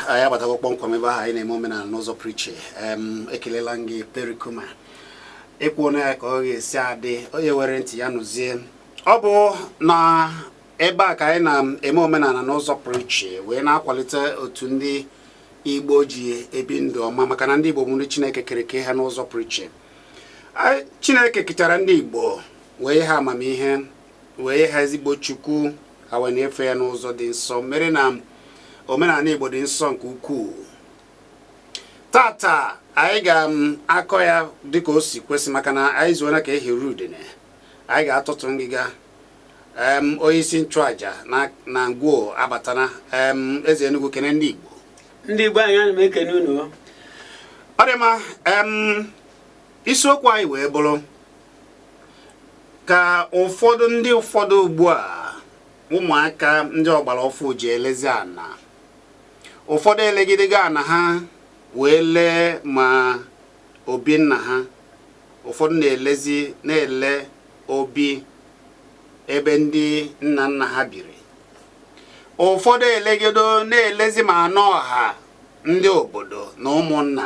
anyị abatago kpọmkwem ebe ahụ anyị na-eme omenala n'ụzọ pụrụ iche ekelela m gị perikuma ekwuona ya ka ọ ga-esi adị onye were ntị ya nụzie ọ bụ na ebe a ka anyị na-eme omenala n'ụzọ pụrụ iche wee na-akwalite otu ndị igbo ji ebi ndụ ọma maka na ndị igbo bụ ndị chineke kereke ha n'ụzọ pụrụ iche chineke kechara ndị igbo wee nye ha amamihe wee nye ha ezigbo chukwu ha wee na-efe ya n'ụzọ dị nsọ mere na omenala igbo dị nsọ nke ukwuu tata anyị ga-akọ ya dịka o si kwesị maka na anyị zuona ka aha eri udene anyị ga-atọtu ngịga onye isi nchụaja na ngwo abatana eze Enugu kene ndị igbo ndị igbo anyị ana m ekene unu ọ dị mma isiokwu anyị wee bụrụ ka ụfọdụ ndị ụfọdụ ugbu a ụmụaka ndị ọgbara ọfụ ji elezi ana ụfọdụ elegidego ana ha wee lee ma obi nna ha ụfọdụ na-elezi na-ele obi ebe ndị nna nna ha biri ụfọdụ elegido na-elezi ma ana ọha ndị obodo na ụmụnna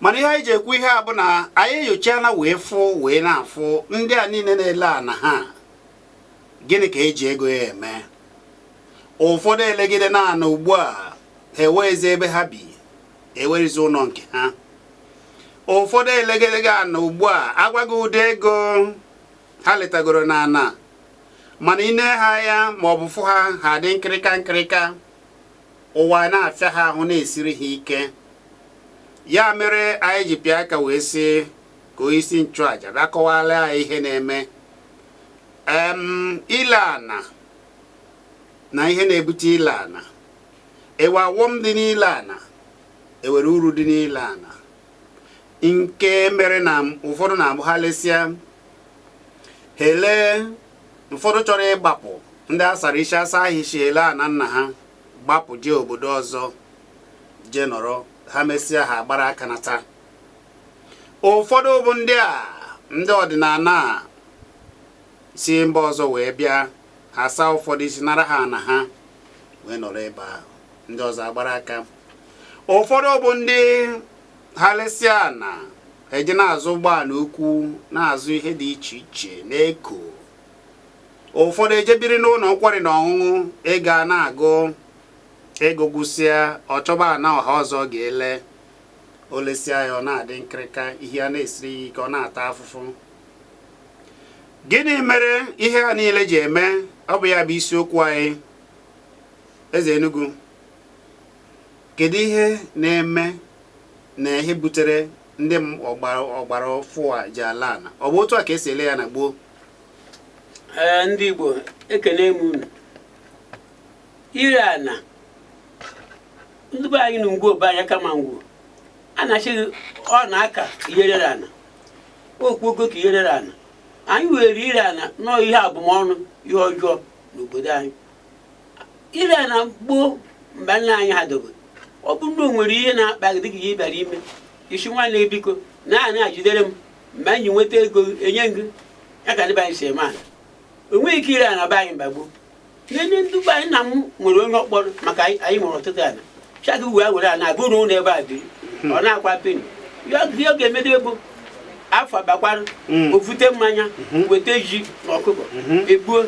mana ihe anyị ji ekwu ihe a bụ na anyị enyochana wee fụ wee na-afụ ndị a niile na-ele ana ha gịnị ka eji ego ya eme ụfọdụ elegidena ana ugbu a ha enweghịzi ebe ha bi enwerọzi ụnọ nke ha ụfọdụ elegidego ana ugbu a a gwa gị ụdị ego ha letagoro na ana mana i nee ha anya ma ọ bụ fụ ha ha dị nkịrịka nkịrịka ụwa na-afịa ha ahụ na-esiri ha ike ya mere anyị ji pịa aka wee sị ka onyeisi nchụaja bịa kọwara anyị ihe na-eme ile ana na ihe na-ebute ile ana enwe ọghọm dị n'ile ana enwere uru dị n'ile ana nke mere na ụfọdụ na-abụ ha lesịa ha elee ụfọdụ chọrọ ịgbapụ ndị asara isi asa ahịsi ele ana nna ha gbapụ jee obodo ọzọ jee nọrọ ha mesịa ha agbara aka nata ụfọdụ bụ ndị a ndị ọdịnala si mba ọzọ wee bịa ha saa ụfọdụ isi nara ha ana ha wee nọrọ ebe ahụ ndị ọzọ agbara aka ụfọdụ bụ ndị ha lesịa ana eje na-azụ ụgbọala ukwu na-azụ ihe dị iche iche na-eko ụfọdụ ejebiri n'ụlọ nkwari na ọṅụṅụ ego ana agwụ ego gwụsịa ọ chọba ana ọha ọzọ ga-ele o lesịa ya ọ na-adị nkịrịka ihe a na-esiri ya ike ọ na-ata afụfụ gịnị mere ihe a niile ji eme ọ bụ ya bụ isiokwu anyị eze Enugu Kedu ihe na-eme na ihe butere ndị ọgbara ọfụụ a ji ele ana ọ bụ otu a ka esi ele ya na gboo ee ndị Igbo ekene m unu ire ana ndị be anyị na Ngwo be anyị kama Ngwo a na-achịghị ọ na-aka ihe rere ana okpogo ka ihe rere ana anyị were ire ana nọọ ihe abụmọnụ ihe ọjọọ n'obodo anyị ire ana gboo mgbe nna anyị ha dogo ọ bụrụ na o nwere ihe na-akpa gị dịka ihe ị bịara ime ị sị nwanne gị biko naa ana jidere m mgbe anyị nweta ego gị, enye m gị ya ka ndị be anyị si eme ana o nweghị ike ire ana be anyị mgbe gboo nene ndị be anyị nna m nwere onye ọ kpọrọ maka anyị anyị nwere ọtụtụ ana chagị wee were ana agụ na ụlọ ebe a biri ọ na-akwa peni ya ihe ọ ga-emedo bụ afọ gbakwara Mm. o vute mmanya weta ji na ọkụkọ Mhm. egbuo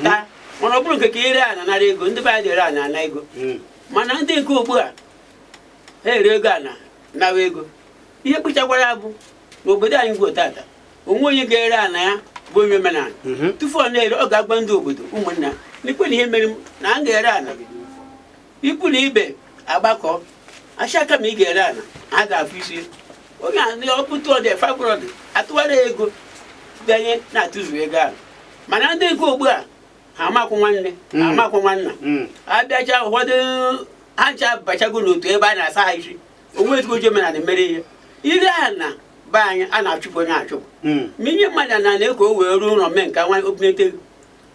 taa mana ọ bụrụ nke ka ire ana nara ego ndị be anyị adị ere ana ana ego hmm. mana ndị nke ugbu a ha erego ana nawa ego ihe kpụchakwara bụ na obodo anyị Ngwo tata o nwe onye ga-ere ana ya bụ onye omenala hmm. tufu ọ na-ere ọ ga-agwa ndị obodo ụmụnna n'ikwunne ihe mere na a ga-ere ana ikwu na ibe agbakọ asị kama ị ga-ere ana a ga-afụ isi onye a na ọ bụ two hundred five hundred atụwara ya ego bịanye na-atụzu ego ahụ mana ndị nke ugbu a ha amakwụ nwanne ha Mm. amakwụ nwanna Mm. abịacha ụfọdụ ha ncha bachago n'otu ebe a na-asa ha isi o nwe ezigbo oji omenala mere ihe ire ana be anyị a na-achụpụ onye achụpụ Mm. ma i nye mmadụ ana na-eko o wee rụọ ụlọ mee nke nwa obinete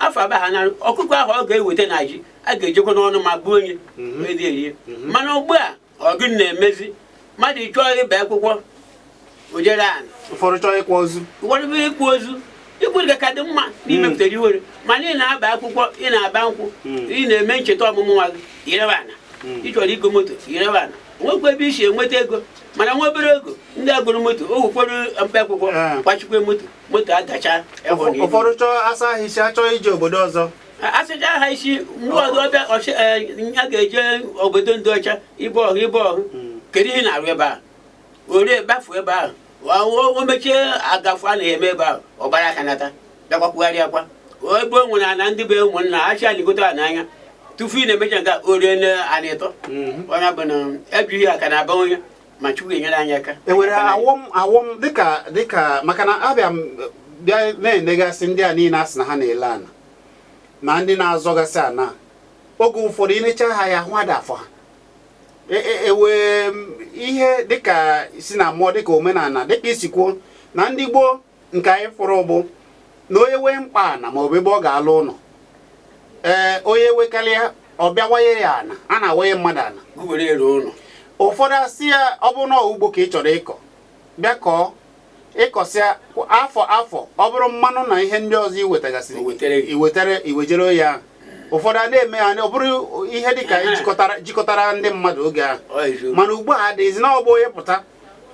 afọ agba ha narụ ọkụkọ ahụ ọ ga-eweta na ji a ga-ejekwa n'ọnụ ma gbuo onye mhm. esie erie mhm. mana ugbu a ọ gịnị na-emezi mmadụ chọọ ịgba akwụkwọ o jee ree ana ụfọdụ chọọ ịkwa ozu ụfọdụ bụ ịkwa ozu ikwurịga ka dị mma na imepụtara mhm. iwere mana ị na-agba akwụkwọ ị na-agba nkwụ ị na-eme ncheta ọmụmụ nwa gị i rebe ana ị chọrọ igo moto i rebe ana nwekwa ebe i si enweta ego mana nwa obere ego ndị agụrụ moto o ụfọdụ mkpa akwụkwọ gbachikwa moto moto agacha ịhụ na ụfọdụ chọọ asa ha isi achọọ ije obodo ọzọ asacha ha isi ndị ọdụ ọbịa ọchị a ga-eje obodo ndị ọcha ibe ọhụ ibe ọhụ kedu ihe na-arụ ebe a o ree gbafu ebe ahụ o o mechie agafu a na-eme ebe ahụ ọ gbara aka nata bịakwakwugharị akwa ebe o nwere ana ndị be ụmụnna achị aligote a n'anya tufu ị na-emecha nke a, o ree na ana ịtọ onye bụ na ejughị aka na aba onye ma Chukwu enyere anyị aka enwere awọm awọm dịka dịka maka na abịa bịa na-enegasị ndị a niile asị na ha na-ele ana na ndị na-azọgasị ana oge ụfọdụ inecha ha ya hụ ada afọ ha ewe e, e ihe dịka si na mmụọ dịka omenala dịka i si kwuo na ndị gboo nke anyị fụrụ bụ na onye wee mkpa ana ma ọ bụ ebe ọ ga-alụ ụlọ ee onye wekarịa ọ bịa waye ya ana a na-awaye mmadụ ana were ere ụlọ ụfọdụ asị ya ọ bụrụ na ugbo ka ị chọrọ ịkọ bịa kọọ ịkọsịa afọ afọ ọ bụrụ mmanụ na ihe ndị ọzọ iwetagasịrị iwetara iwejere onye ahụ ụfọdụ a na-eme ya ọ bụrụ ihe dịka jikọtara ndị mmadụ oge ahụ mana ugbu a adịghịzi na ọ bụ onye pụta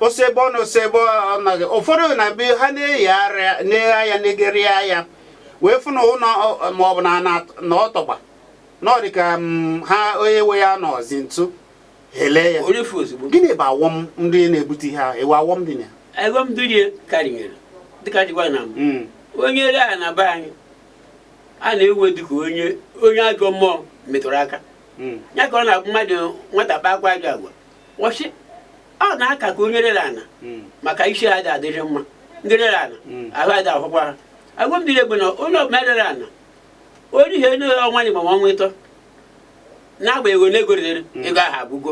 o si ebe ọ nọ o si ebe ọ nọghị ụfọdụ na be ha na-eyi arịa na-eghe anya na-egeri anya wee fụ na ụlọ ma ọ bụ na ana na ọ tọgbọ na ọ dị ka mm, ha onye nwe ya nọzi ntu ha ele ya o refu ozugbo gịnị bụ awọm ndị na-ebute ihe ahụ ewe awọm dị na ya ego m dunye karịnyere dịka dịgwa na mbụ Mm. onye ere ana be anyị a na-ewe dịka onye onye ajọ mmụọ metụrụ aka Mm. ya ka ọ na-abụ mmadụ nwata kpakwaa ajọ agwa ọ sị ọ na-aka ka onye rere ana hmm. maka isi ha dị adịghị mma ndị rere ana hmm. ahụ adị ahụkwa ha awọm dịrị ya bụ na onye ọbụla rere ana onye ihe onye ọnwa naabọ ma ọnwa ịtọ n'agbanyeghị ole ego rere hmm. ego ahụ agwụgo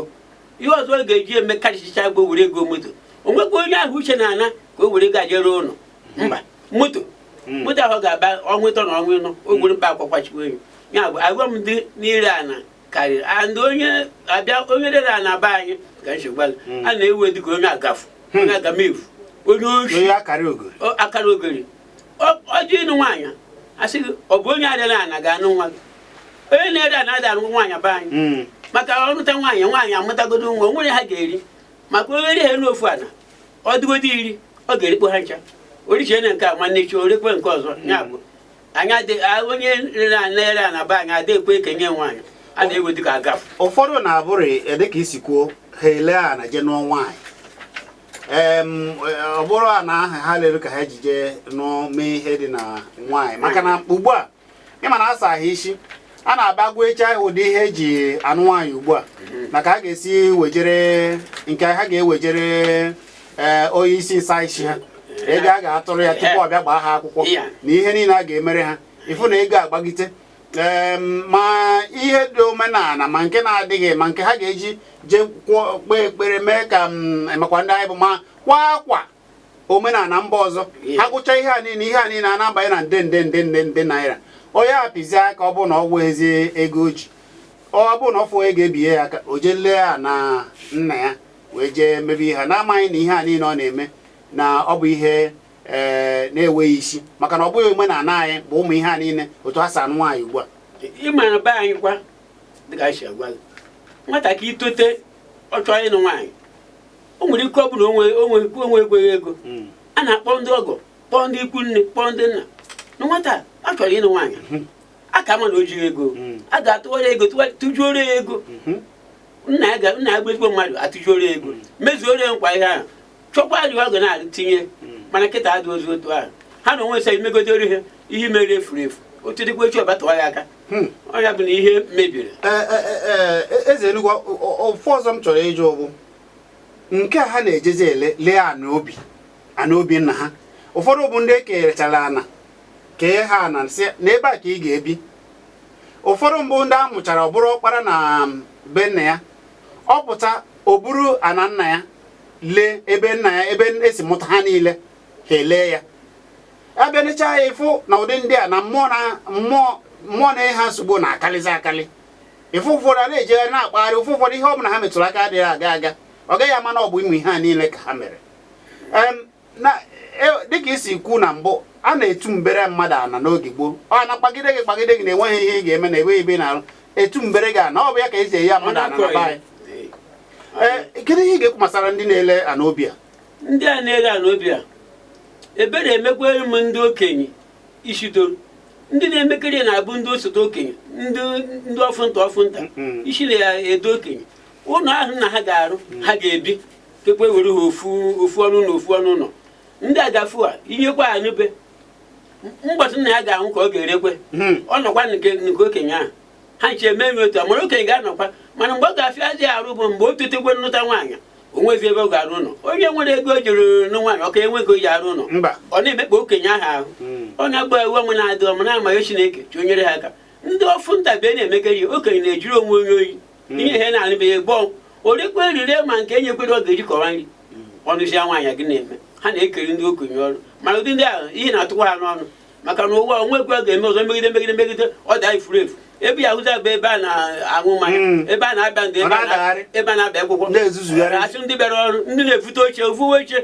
ihe ọzọ ọ ga-eji eme karịsịcha bụ were goo moto o nwekwa onye ahụ uche na ana ka o were ego je rụọ ụlọ mba moto moto ahụ ga-agba ọnwa ịtọ na ọnwa ịnọ o gburu mkpa akwakwa chukwu enyi ya bụ awọm dị n'ire ana karịrị and onye abịa onye rere ana be anyị ka nchegwa hmm. a na-ewe dịka onye agafu hmm. onye agamefu onye oshi akarogori o jee ịnụ nwaanyị asị gị ọ bụ onye adịla ana ga-anụ nwa gị onye na-ere ana adị anụ nwaanyị be anyị hmm. maka ọ nụta nwaanyị nwaanyị amụtagodo nwa o nwere ihe ha ga-eri maka onye ri ha elu ofu ana ọ dịgodo iri ọ ga-erikpo ha ncha o richie ana nke a nwanne echi o rekwe nke ọzọ ya bụ onye rere na-ere ana be anyị adịghị ekwe ekenye nwaanyị a na-ewe dịka agafu ụfọdụ na-abụrụ e, dịka i si kwuo ha ele ana je nụọ nwaanyị e, ọ bụrụ ana ahụ ha lere ka ha ji je nụọ mee ihe dị na nwaanyị maka na ugbu a ịma na asa ha isi a na-agbanwecha ụdị ihe eji anụ nwaanyị ugbu a na ka ha ga-esi wejere nke ha ga-ewejere ee eh, onye isi nsa isi ha ego a ga-atụrụ ya tupu ọ bịa gbaa ha akwụkwọ na ihe niile a ga-emere ha ịfụ na ego agbagite ma ihe dị omenala ma nke na-adịghị ma nke ha ga-eji jee kpee ekpere mee ka makwa ndị anyị bụ makwa akwa omenala mba ọzọ ha gụcha ihe a niile ihe a niile a na-abanye na nde nde nde nde nde naira onye apịzi aka ọ bụrụ na o nwezi ego o ji ọ bụrụ na ọ fụ onye ga-ebinye ya aka o jee lee ana nna ya wee jee mebe ihe na-amaghị na ihe a niile ọ na-eme na ọ bụ ihe ee eh, na-enweghị isi maka na ọ bụghị omenala anyị bụ ụmụ ihe a niile otu ha si anụ nwaanyị ugbu a ịma na be anyị kwa dịka anyị si agwa nwatakịrị itote ọ chọọ ịnụ nwaanyị o nwere ike ọ bụrụ o nwe o nwe o nwekweghị ego Mm. a na-akpọ ndị ọgọ kpọọ ndị ikwu nne kpọọ ndị nna na nwata a chọrọ ịnụ nwaanyị a kama na o jighị ego Mm. a ga-atụwara ego tụwa- tụjuoro ya ego Mhm. nna ya ga- nna ya bụ ezigbo mmadụ atụjuoro ya ego mezuoro ya kwa ihe ahụ chọkwa ajụ ọ ga na-atinye mana kịta adịzi otu ahụ ha na onwe sị imegodoro ihe ihe mere efuru efu otu dịkwa echi ọba tụwa ya aka Hmm. ọ ya bụ na ihe mebiri e, e, e, eziokwu ofu ọzọ m chọrọ ịjụ bụ nke a ha na-ejezi ele lee ana obi ana obi nna ha ụfọdụ bụ ndị e kechara ana kee ha ana sị na ebe a ka ị ga-ebi ụfọdụ mbụ ndị a mụchara ọ bụrụ ọkpara na um, be nna ya ọ pụta o buru ana nna ya lee ebe nna ya ebe e si mụta ha niile ha elee ya a bịa nechaa ya ị fụ na ụdị ndị a na ụmụ na ụmụ ụmụnna ha nsogbu na-akarịzi akarị ị fụ ụfọdụ a na-ejegharị na-akpagharị ụfụ ụfọdụ ihe ọ bụla ha metụrụ aka adịghị aga aga ọ gaghị ama na ọ bụ ụmụ ihe a niile ka ha mere e, dịka i si kwu na mbụ a na-etu mbere mmadụ ana n'oge gboo ọ na-akpagide gị kpagide gị na enweghị ihe ị ga-eme na enweghị ebe ị na-arụ etu mbere gị ana ọ bụ ya ka e si enye mmadụ ana na be anyị e, kedu ihe ị ga-ekwu gbasara ndị na-ele ana obi a ndị a na-ere ana obi a ebere emekwere m ndị okenye ishidoro ndị na-emekarị ya na-abụ ndị osote okenye ndị ndị ọfụnta ọfụnta Mm. isi na ya edo okenye ụlọ ahụ na ha ga-arụ ha ga-ebi kekwe were ha ofu ofu ọnụ na ofu ọnụ ụlọ ndị agafu a inyekwa ha na ọ bụ mbọsị nna ya ga-anwụ ka ọ ga-erekwe Hmm. ọ nọkwa nke nke okenye ahụ ha nche eme ya otu a mara okenye ga-anọkwa mana mgbe ọ ga-afịa ya arụ bụ mgbe o totekwe nụta nwaanyị o nwezi ebe ọ ga-arụ ụlọ onye nwere ego o jiri nụ nwaanyị ọ ka nwe ego o ji arụ ụlọ mba ọ na-emekpa okenye ahụ ahụ Mm. ọ na-agba iwe ọnwụ na-adị ọma na-ama ya Chineke nyere ha aka ndị ọfụnta bụ na-emekarị ya okenye na-ejiri onwe onye oyi ihe ha na-anụbeghị gbọọ o rekwa erire ma nke e nyekwere ọ ga-eji kọwa nri ọ nụzie nwaanyị gị na-eme ha na-ekeri ndị okenye ọrụ mana ụdị ndị ahụ ihe na-atụkwa ha n'ọnụ maka na ụwa o nwekwe ga-eme ọzọ megide megide megide ọ daa efuru efu ebe ya hụta bụ ebe a na-aṅụ mmanya hmm. ebe a na-agba ndị ebe a na-agba akwụkwọ a sị ndị bịara ọrụ ndị na-evute oche o vuwe oche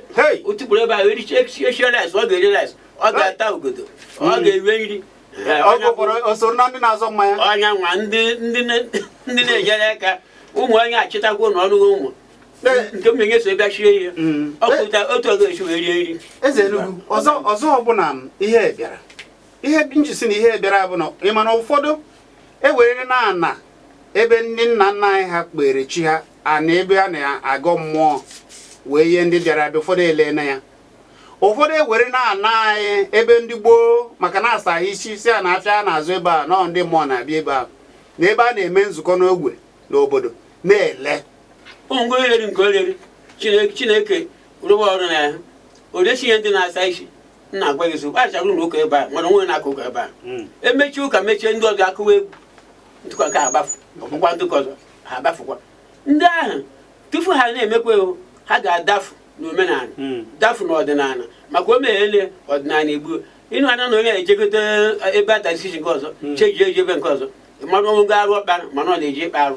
o tukpuru ebe ahụ e richie e shie rice ọ ga-eri rice ọ ga-ata ogodo ọ hmm. ga-ewe nri o nyewa ndị na-enyere aka ụmụ onye achịtakwa ụlọ ọrụ ụmụ nke m na-enye so ebe chie ihe mm. ọ pụta otu ọ ga-esi wee rie nri eze Enugu ọzọ ọzọ ọbụla ihe bịara ihe m ji sị na ihe bịara bụ na ị ma na ụfọdụ ewerena ana ebe ndị nna nna anyị ha kpere chi ha ana ebe a na-agọ mmụọ wee nye ndị bịara abịa ụfọdụ elena ya ụfọdụ ewerena ana anyị ebe ndị gboo maka na asa ha isi sị na afịa a na-azụ ebe a na ndị mmụọ na-abịa ebe a na ebe a na-eme nzukọ n'ogbe n'obodo na-ele ụmụ ngwa oriri nke oriri Chineke Chineke rụwa ọrụ na ya o resi ihe ndị na-asa isi nna agwa gị zokwa achagụrụ na ụka ebe a mana onwe na-akụ ụka ebe a Mm. emechie ụka mechie ndị ọzọ akụwa egwu ntụkọ nke agbafu ọgbụgba ntụkọ ọzọ ha agbafukwa ndị ahụ tupu ha na-emekwa ewu ha ga-adafu n'omenala Mm. dafu n'ọdịnala maka o meghele ọdịnala Igbo ịnụ anya na onye ejegote ebe a na-asa isi nke ọzọ chejie eji ebe nke ọzọ mmadụ ọnwụ ga arụ ọkpara mana ọ na-eji ịkpa arụ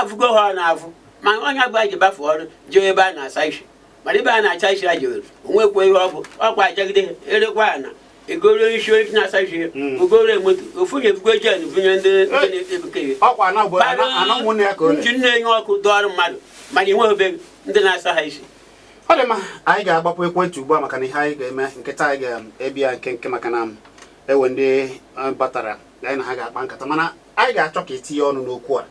afụgo ha ọ na-afụ ma onye agba ji bafe ọrụ jee ebe a na-asa isi mana ebe a na-asa isi a jewere onwekwa ihe ọ bụ ọkwa asagide erekwa ana egoro isi onye na-asa isi hmm. ogoro moto ofu na-ebugo gen bunye ndị na-ebukeghị nji na-enye ọkụ dọọrụ mmadụ mana inwe obe ndị na-asa ha isi ọ dị mma anyị ga-agbapụ ekwentị ugbu a maka na ihe anyị ga-eme kịta anyị ga-ebi ya nkenke maka na e nwere ndị eh, batara anyị na ha ga-akpa nkata mana anyị ga-achọ ka i tinye ọnụ n'okwu a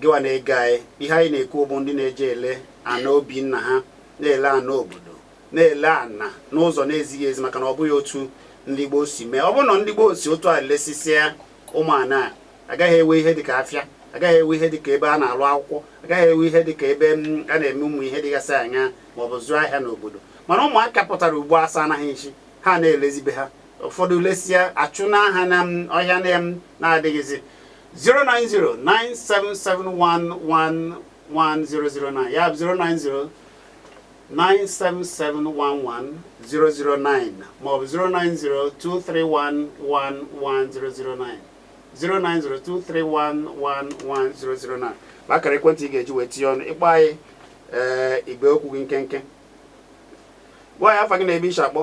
gịwa na-ege anyị ihe anyị na-ekwu bụ ndị na-eje ele ana obi nna ha na-ele ana obodo na-ele ana n'ụzọ na-ezighị ezi maka na ọ bụghị otu ndị gboo si mee ọ bụrụ na ndị gboo si otu a lesisịa ụmụ ana a agaghị enwe ihe dịka afịa agaghị enwe ihe dịka ebe a na-alụ akwụkwọ agaghị enwe ihe dịka ebe mm, a na-eme ụmụ ihe dịgasị anya ma ọ bụ zụọ ahịa n'obodo mana ụmụaka pụtara ugbu a asana ha isi ha na-elezibe ha ụfọdụ lesịa achụ n'aha na ọhịa na m na-adịghịzi 09097711009 ya bụ 09097711009 maọbụ 09023111009 09023111009 bụ akara ekwentị ị ga-eji wee tinye ọnụ ị kpọọ anyị ee eh, i gbuo okwu gị nkenke gwa anyị afa gị na ebe i si akpọ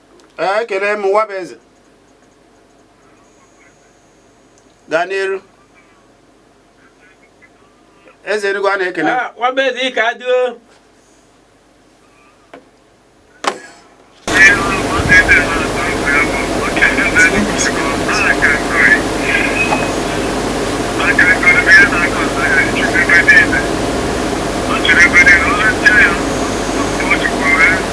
ee ekele m Nwabueze gaa n'iru eze Enugu a na-ekele ah, Nwabueze ka adịo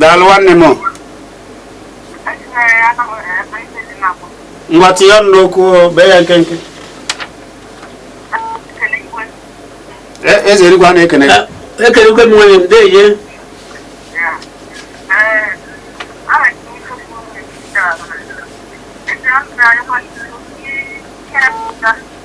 daalụ nwanne m ngwa tinye ọnụ n'okwu bee ya nkenke E- eze Enugu a na-ekene gị. ekelekwe m nwanne m deje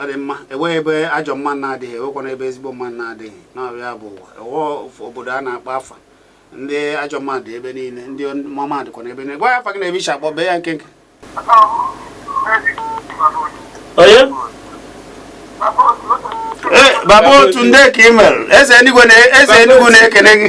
ọ dị mma enweghị ebe ajọ mmadụ na-adịghị enwekwana ebe ezigbo mmadụ na-adịghị na ọ bụ ya bụ ụwa enweghị obodo a na-akpọ afa ndị ajọ mmadụ ebe niile ndị ọma dịkwana ebe niile gwa m afa gị na ebe i si akpọ bee ya nkenke onye baba otu ndee ka ị mere eze enugwu na-ekene gị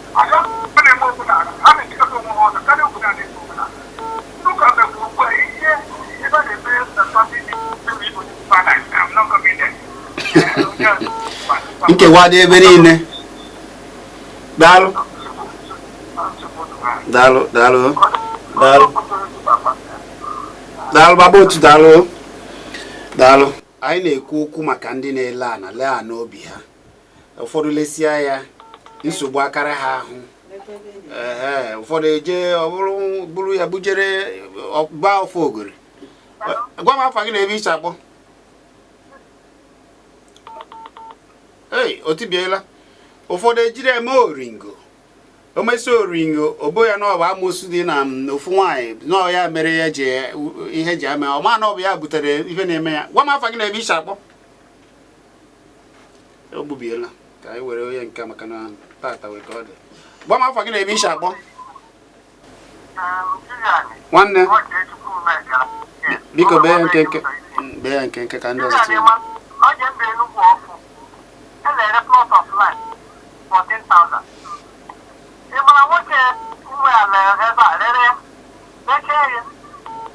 nkewa dị ebe niile daalụ daalụ daalụ daalụ daalụ baba otu daalụ daalụ anyị na-ekwu okwu maka ndị na-ele ana lee ana obi ha ụfọdụ lesia ya nsogbu akarị ha ahụ ụfọdụ eje ọbụrụ buru ya bujere ọgba ọfọ ogori gwa m afa gị na ebe i si akpọ ee o tibiela ụfọdụ ejiri eme oringo o mesịa oringo o bo ya na ọ bụ amosu dị na ofu nwaanyị na ọ ya mere ya ji ihe ji ama ọ ma na ọ bụ ya butere ihe na-eme ya gwa m afa gị na ebe i si akpọ o gbubiela ka anyị were onye nke maka na tata nwee ka ọ dị gwa m afa gị na ebe i si akpọ nwanne biko bee ya nkenke bee ya nkenke ka ndị ọzọ tinye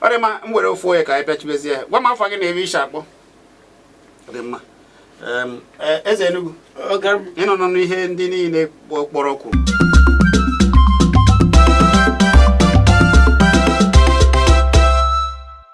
ọ dị mma m were ofu onye ka anyị pịachibezie ya gwa m afa gị na ebe i si akpọ ọ dị mma Em, e- eze Enugu Ọga m. ị nụnụ ihe ndị niile kpọ- kpọrọ kwuru